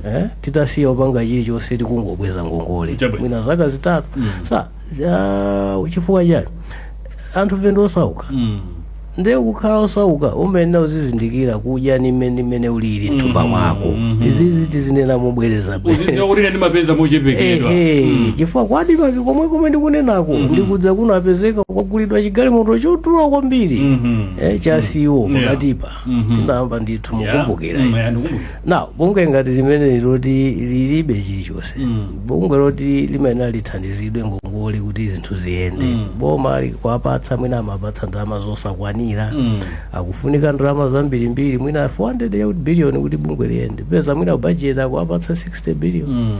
eh? titasiya opanga chilichonse tikungobweza ngongole Chabwino. mwina zaka zitatu sa Ah, chifukwa chani anthufe ndi osauka mm. ndiye kukhala osauka umayenera uzizindikira kudya ndi mmene mmene ulili mthumba mwako izizi tizinena mobwereza uzidziwa kuti ndimapeza mochepekedwa Ehe, chifukwa ku admarc komwe komwe ndikunenako ndikudza kunapezeka kwagulidwa chigalimoto chodula kwambiri Mhm. eh, cha CEO Yeah. pakatipa tinayamba ndithu mukumbukira Mm, ya, ndikumbukira. now bungwe ngati limeneli loti lilibe chilichonse bungwe loti limayenera lithandizidwe ngongole kuti zinthu ziyende boma likuwapatsa mwina amapatsa ndalama zosakwanira akufunika ndalama zambirimbiri mwina 400 billion kuti bungwe liyende peza mwina bajeti akuwapatsa 60 billion Mm.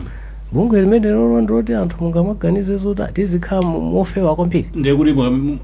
bungwe limenelolo ndiloti anthu mungamaganize zoti tizikhala mu- mofewa kwambiri ndekuti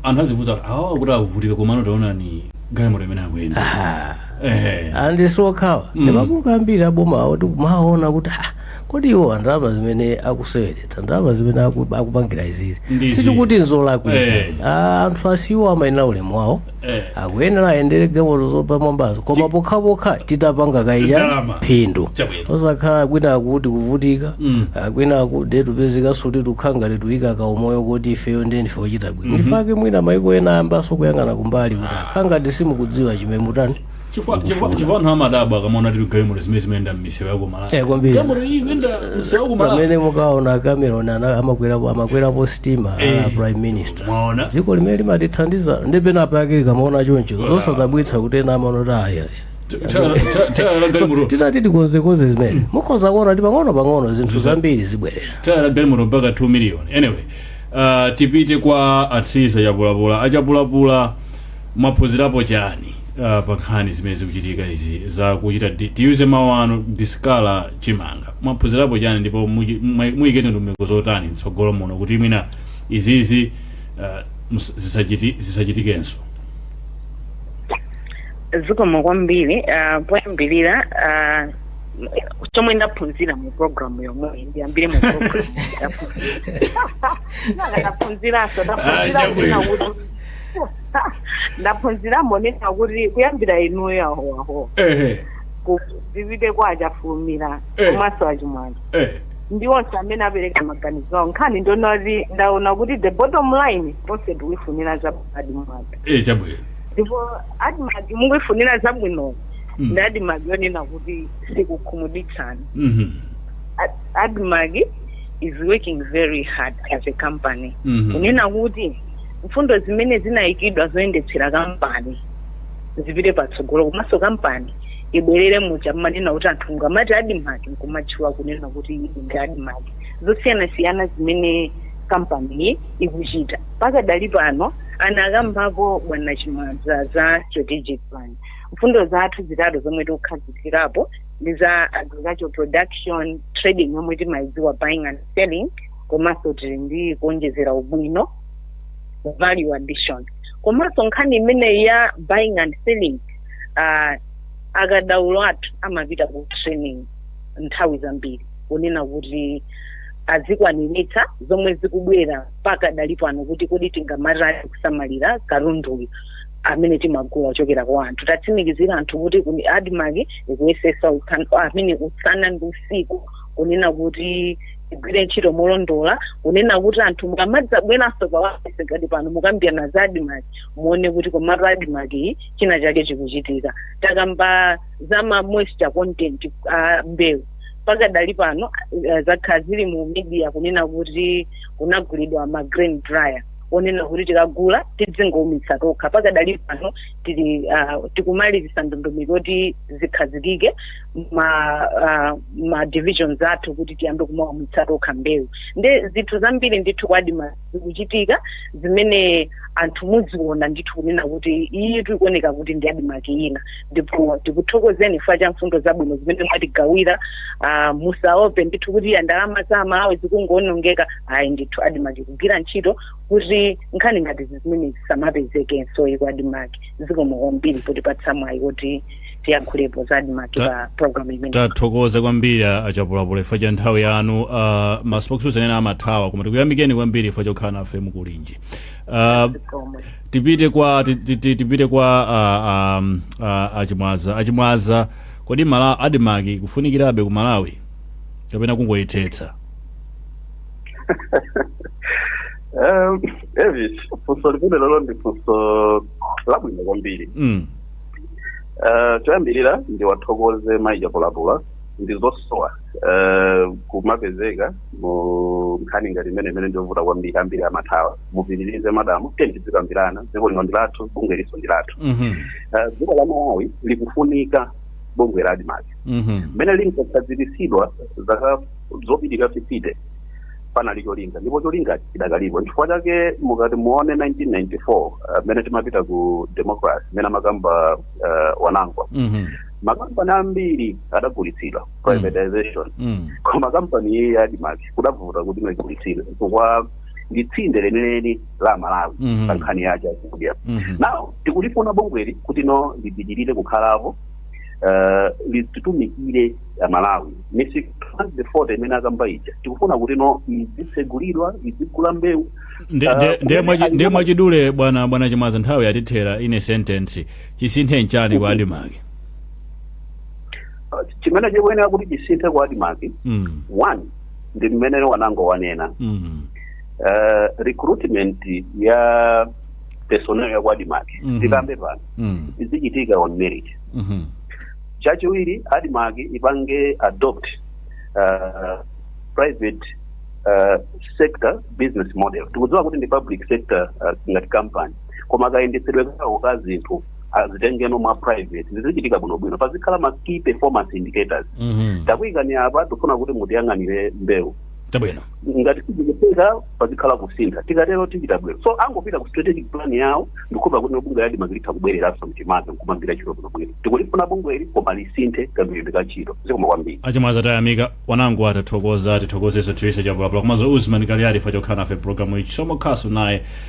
anthu azivutika awa kuti avutike komano taonani galimoto imene akuyenda Aha. Eh. andi siokhawa ndi mabungwe ambiri aboma awo tikumaona kuti "Ah, kodi iwo ndalama zimene akuseweretsa ndalama zimene aku- akupangira izizi Ndizi. sitikuti Eh. nzolakwika anthu a CEO amayenera ulemu wawo Eh. akuyenera ayendere galimoto zopamwambazo koma pokhapokha titapanga kaye Ndalama. phindu Chabwino. osakhala kwinaku tikuvutika Mm. ah, kwinaku ndi tupezekanso kuti tukhala ngati tuyika kaumoyo koti ifeyo ndiye ndife ochita bwino ndifake mwina maiko ena ayambanso kuyang'ana kumbali kuti akhala ngati simukudziwa chimene mutani chifukwa chifukwa- chifukwa anthu amadabwa akamaona tili galimoto zimene zimayenda m'misewu ya ku Eh, kwambiri. malawi galimoto iyi kuyenda msewu ya ku malawi pamene mukaona cameron ana- amakwerapo amakwerapo sitima Eh. a prime minister mwaona dziko limene limatithandiza ndi pena pake likamaona choncho zosadabwitsa kuti ena amaona kuti aya tayala galimoto titati tikonzekonze zimene mukhoza kuona kuti pang'ono pang'ono zinthu zambiri zibwerera tayala galimoto mpaka 2 million anyway uh, tipite kwa asisi achapulapula achapulapula mwaphunzirapo chani uh, pa nkhani zimene zikuchitika izi za kuchita di- tiyuze mawu anu discolour chimanga mwaphunzirapo chani ndipo muchi- mwa- muyike ndondomeko zotani mtsogolo muno kuti mwina izizi uh, mus- zisachiti- zisachitikenso zikomo kwambiri uh, poyambirira uh, chomwe ndaphunzira mu programu yomweyi ndiyambire mu programu ndaphunziraso ndaphunzira kuti ndaphunziramo nena kuti kuyambira inuyo ahowahowa kupite kwa achafulumira komanso achimwaza ndi onse amene apereka maganizo awo nkhani ndi yoti ndaona kuti the bottom line onse tikuifunira zabwino admarc ndipo admarc mukuifunira zabwino Mm. ndi admarc yonena kuti sikukhumudwitsani Mhm. Ad- admarc is working very hard as a company Mhm. kunena kuti mfundo zimene zinayikidwa zoyendetsera kampani zipite patsogolo komanso kampani ibwerere muja mmanena kuti anthu mukamati admarc nkumatchula kunena kuti iyi ndi admarc zosiyanasiyana zimene kampani iyi ikuchita pakadali pano anakambapo bwana chimwaza za strategic plan mfundo zathu zitatu zomwe tikukhazikirapo ndi za agricultural production trading yomwe timayidziwa buying and selling komanso tili ndi kuonjezera ubwino value addition komanso nkhani imeneyi ya buying and selling uh, akadaulo athu amapita ku training nthawi zambiri kunena kuti azikwaniritsa zomwe zikubwera pakadali pano kuti kodi tingamatani kusamalira katunduyu amene timagula ochokera kwa anthu tatsimikizire anthu kuti kuni admarc ikuyesesa usan- amene usana ndi usiku kunena kuti igwire ntchito molondola kunena kuti anthu mukamadzabweranso pawailesi ngati pano mukambirana za admarc muone kuti komatu admarc iyi china chake chikuchitika takamba za ma moisture content a mbewu pakadali pano eh, zakhala zili mu media kunena kuti kunagulidwa ma grain dryer onena kuti tikagula tidzingoumitsa tokha pakadali pano tili uh, tikumalizisa ndondomeko kuti zikhazikike ma uh, ma divisions athu kuti tiyambe kumaumitsa tokha mbewu nde zinthu zambiri ndithu kwa adimaki zikuchitika zimene anthu muziona ndithu kunena kuti iyi tikuoneka kuti ndi adimaki ina ndipo tikuthokozeni chifukwa cha mfundo zabwino zimene mwatigawira ah, musaope ndithu kuti ya ndalama za amalawi zikungoonongeka ayi ndithu adimaki ikugwira ntchito kuti nkhani ngati zimene zisamapezekenso ku adimaki zikomo kwambiri potipatsa mwayi kuti tiyankhulepo za adimaki Ta- pa programu imeneyi tathokoza kwambiri a- achapulapula ifo cha nthawi yanu uh, ma spokesperson ena amathawa koma tikuyamikeni kwambiri ifo chokhala nafe mukulinji uh, Zikomo. tipite kwa ti- ti- ti- tipite kwa ah, ah, ah, achimwaza achimwaza kodi mala adimaki ikufunikirabe ku malawi kapena kungoyithetsa Um, Elvis, funso limenelolo ndi funso labwino kwambiri mm. Eh, choyambirira ndiwathokoze mayi chapulapula ndi zosowa eh, kumapezeka mu nkhani ngati imeneyi imene ndiovuta kwambiri ambiri amathawa mupitirize madam tiye tidzikambirana dziko lino ndi lathu bungweli nso ndi lathu Mhm. Eh, dziko la malawi likufunika bungwe la admarc Mhm. mmene linkakhazikitsidwa zaka zopitirira 50 panali cholinga ndipo cholinga chidakalipo chifukwa chake mukati muwone 1994 eh, mmene timapita ku democracy mmene amakamba eh, wanangwa Mhm. makampani ambiri adagulitsidwa privatization Mm. koma kampani iyi ya admarc kudavuta kuti igulitsidwe chifukwa ndi tsinde lenileni la amalawi Mhm. pa nkhani ya chakudya Mhm. now tikulifuna bungweli kuti no lipitirire kukhalapo eh, lidzitumikira amalawi misika 40 imene akamba ija tikufuna kuti no izitsegulidwa izigula mbewu Nde- Ah, nde- kumene ndiye mwachi- ali- ndiye mwachidule bwana bwana chimaza nthawi yatithera in a sentence chisinthe nchani kwa adimaki chimene chikuyenera kuti chisinthe kwa adimaki mm. one ndi mmene wanango wanena Mm. Eh, recruitment ya personnel ya kwa admarc Mhm. tikambe pano Mm. izichitika on merit Mhm. chachiwiri admarc ipange adopt uh, private uh, sector business model tikudziwa kuti ndi public sector uh, ngati company koma kayendetsedwe kawo ka zinthu azitengeno mwa private zizichitika bwinobwino pazikhala ma key performance indicators Mhm. takuyikani apa tifuna kuti mutiyang'anire mbewu Tabwino. ngati sizikutheka pazikhala kusintha tikatero tichita bwino so angopita ku strategic plan yawo ndikukhulupira kuti bungwe la ADMARC litha kubwereranso mchimake nkumagwira ntchito bwinobwino tikulifuna bungweli koma lisinthe kagwiridwe ka ntchito zikomo kwambiri a Chimwaza tayamika ifenso tathokoza tithokozenso theresa chapulapula komanso usman kaliali chifukwa chokhala nafe mu programu ichi somokhaso naye